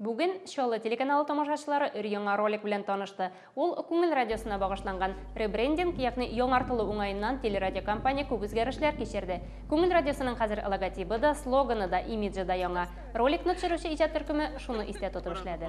Бүген Чаллы телеканалы тамашачылары өр-яңа ролик белән танышты. Ул Күңел радиосына багышланган. Ребрендинг, ягъни яңартылу уңаеннан телерадиокомпания күп үзгәрешләр кичерде. Күңел радиосының хәзер логотибы да, слоганы да, имиджы да яңа. Роликны төшерүче иҗат төркеме шуны истә тотып эшләде.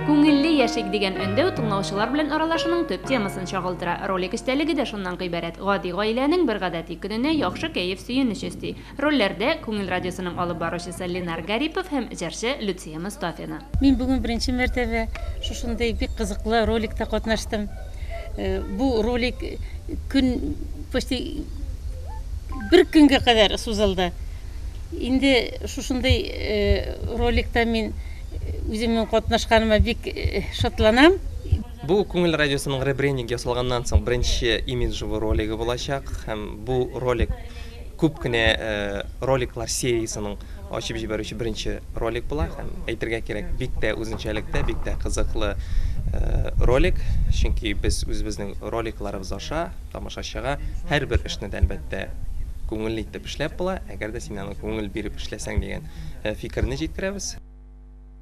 Күңелле яшик дигән өндәү тыңлаучылар белән аралашуның төп темасын чагылдыра. Ролик эчтәлеге дә шуннан гыйбарәт. Гади гаиләнең бер гадәти көненә яхшы кәеф, сөенеч өсти. Рольләрдә, Күңел радиосының алып баручысы Ленар Гарипов һәм җырчы Люция Мостафина. Мин бүген беренче мәртәбә шушындый бик кызыклы роликта катнаштым. Бу ролик көн, почти бер көнгә кадәр сузылды. Инде шушындый роликта мин Үземнең катнашканыма бик шатланам. Бу Күңел радиосының ребрендинг ясалганнан соң беренче имиджевый ролигы булачак һәм бу ролик күп кенә роликлар сериясенең ачып җибәрүче беренче ролик була һәм әйтергә кирәк, бик тә үзенчәлектә, бик тә кызыклы ролик, чөнки без үзебезнең роликларыбыз аша тамашачыга һәрбер эшне дә, әлбәттә, күңелле итеп эшләп була. Әгәр дә син аны күңел биреп эшләсәң дигән фикерне җиткерәбез.